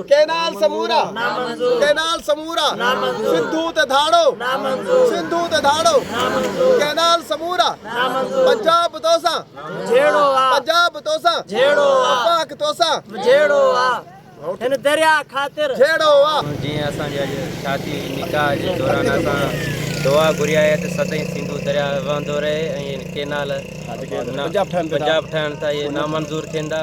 Canal سمورا canal سمورا سنڌو تي ڌاڙو سنڌو تي ڌاڙو ڪينال سمورا پنجاب توسان جهيڙو آ پنجاب توسان جهيڙو آ پاڪ توسان جهيڙو آ هن درياء خاطر جهيڙو آ جيئن اسان جي اڄ شادي نڪاح جي دوران اسان دعا گهري آهي ته سدائين سنڌو درياء وهندو رهي ۽ ڪينال پنجاب ٺهن ٿا اهي نامنظور ٿيندا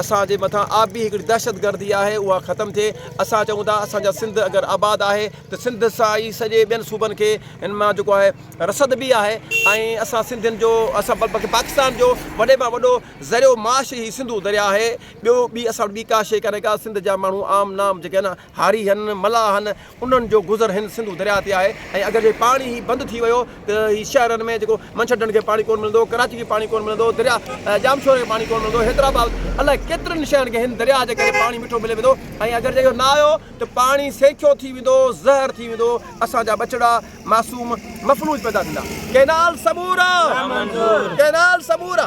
اسان جي مٿان آبي هڪڙي دهشت گردي آهي اها ختم ٿئي اسان چئون ٿا اسان جا سنڌ اگر آباد آهي ته سنڌ سان ئي سڄي ٻين صوبن کي ان مان جيڪو آهي رسد به آهي ۽ اسان سنڌين جو اسان بلڪه پاڪستان جو وڏي مان وڏو ذريعو معاش هي سنڌو درياء آهي ٻيو ٻي اسان وٽ ٻي ڪا شئي ڪانهي ڪا سنڌ جا ماڻهو عام نام جيڪي آهن هاريهن، ملاحن، انهن جو گذر هن سنڌو درياء تي آهي ۽ اگر جي پاڻي هي بند ٿي ويو ته هي شهرن ۾ جيڪو منڇر ڍنڍ کي پاڻي ڪونه ملندو، ڪراچي کي پاڻي ڪونه ملندو، درياء ڄامشوري کي پاڻي ڪونه ملندو، حيدرآباد الائي ڪيترن شهرن کي هن درياء جي ڪري پاڻي مٺو ملي ويندو ۽ اگر جي اهو نه آيو ته پاڻي سينکيو ٿي ويندو، زهر ٿي ويندو، اسان جا ٻچڙا معصوم مفلوج پيدا ٿيندا. ڪينال سمورا! ڪينال سمورا!